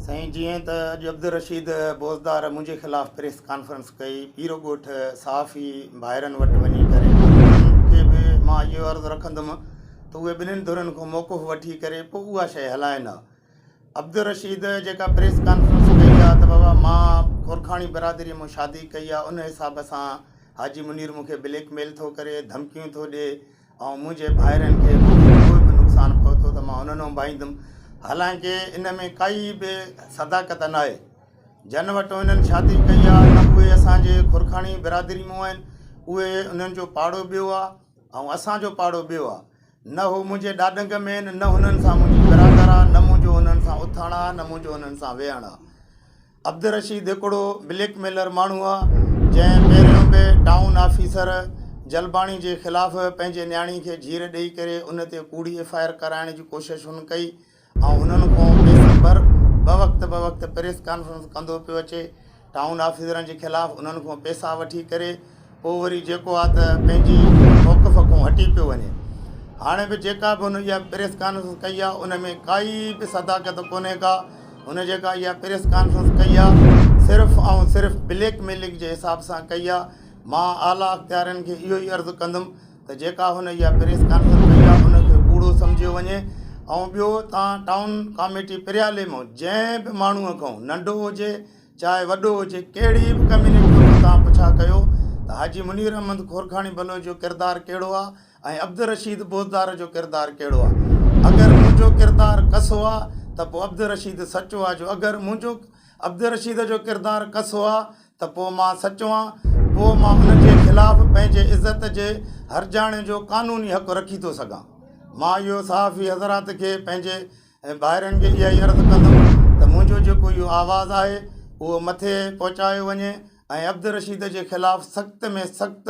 سائين جيئن ته اڄ عبدالرشيد بوزدار منهنجي خلاف پريس ڪانفرنس ڪئي پيرو ڳوٺ صحافي ڀائرن وٽ وڃي ڪري انهن کي به مان اهو عرض رکندم ته اهي ٻنهن ڌرين کان موقف وٺي ڪري پوء اها شيء هلائين ها عبدالرشيد جيڪا پريس ڪانفرنس ڪئي آ ته بابا مان گورکاڻي برادري مون شادي ڪئي آ ان حساب سان حاجي منير مونکي بليڪ ميل ٿو ڪري ڌمڪيون ٿو ڏي ۽ منهنجي ڀائرن کي ڪوئي به نقصان پهتو ته مان انهن انبائيندم حالانڪه ان ۾ ڪائي به صداقت ناهي جن وٽو انهن شادي ڪئي آ نه اهي اسان جي گورکاڻي برادري مون آهن اهي انهن جو پاڙو ٻيو آ ۽ اسان جو پاڙو ٻيو آ نه هو منهنجي ڏاڏنگ مين، نه هنن سان منهنجي ورانگر آ، نه منهنجو هنن سان اٿڻ آ، نه منهنجو هنن سان ويهڻ آ. عبدالرشيد هڪڙو بليڪ ميلر ماڻهو آ، جنهن پهريون به ٽائون آفيسر جلباڻي جي خلاف پنهنجي نياڻي کي جهير ڏيئي ڪري ان تي ڪوڙي ايف آء آر ڪرائڻ جي ڪوشش هن ڪئي، آئون انهن کان بي خبر به وقت به وقت پريس ڪانفرنس ڪندو پيو اچي ٽائون آفيسرن جي خلاف انهن کان پيسا وٺي ڪري پوء وري جيڪو آ ته پنهنجي موقف کان هٽي پيو وڃي هاڻي به جيڪا به هن اها پريس ڪانفرنس ڪئي آ ان ۾ ڪائي به صداقت ڪونهي ڪا هن جيڪا اها پريس ڪانفرنس ڪئي آ صرف ۽ صرف بليڪ ميلنگ جي حساب سان ڪئي آ مان اعليٰ اختيارين کي اهو ئي عرض ڪندم ته جيڪا هن اها پريس ڪانفرنس ڪئي آهي ان کي ڪوڙو سمجهيو وڃي ۽ ٻيو تان ٽائون ڪاميٽي پريالي مون جنهن به ماڻهو کان ننڍو هجي چاهي وڏو هجي ڪهڙي به ڪميونٽي هوندي تان پڇا ڪيو ته حاجي منير احمد کورکاڻي بلوچ جو ڪردار ڪهڙو آهي ۽ عبدالرشيد بوزدار جو ڪردار ڪهڙو آهي اگر منهنجو ڪردار ڪسو آهي ته پوء عبدالرشيد سچو آهي جو اگر منهنجو عبدالرشيد جو ڪردار ڪسو آهي ته پوء مان سچو آهيان، پوء مان انهن جي خلاف پنهنجي عزت جي هرجاڻي جو قانوني حق رکي ٿو سگهان. مان اهو صحافي حضرات کي پنهنجي ۽ ڀائرن کي اها ئي عرض ڪندم ته منهنجو جيڪو اهو آواز آهي اهو مٿي پهچايو وڃي ۽ عبدالرشيد جي خلاف سخت ۾ سخت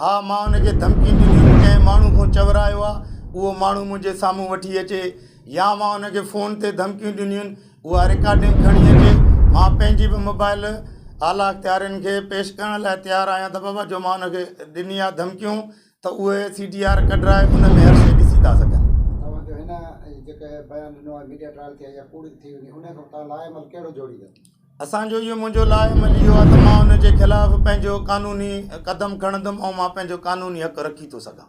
ها مان ان کي ڌمڪي ڏني هئي ڪنهن ماڻهو کان چورايو آهي اهو ماڻهو منهنجي سامهون وٺي اچي يا مان ان کي فون تي ڌمڪيون ڏنيون آهن اها رڪارڊنگ کڻي اچي مان پنهنجي به موبائل اعليٰ اختيارين کي پيش ڪرڻ لاء تيار آهيان ته بابا جو مان ان کي ڏني آهي ڌمڪيون ته اهي سي ڊي آر ڪڍرائي ان ۾ هر شيء ڏسي ٿا سگهن توهان جو هن جيڪي بيان ڏنو آهي ميڊيا ٽرائل ٿئي يا ڪوڙ ٿي وڃي ان کان توهان لاء عمل ڪهڙو جوڙيندو اسان جو اهو منهنجو لاء عمل اهو آهي ته مان ان جي خلاف پنهنجو قانوني قدم کڻندم ۽ مان پنهنجو قانوني حق رکي ٿو سگهان.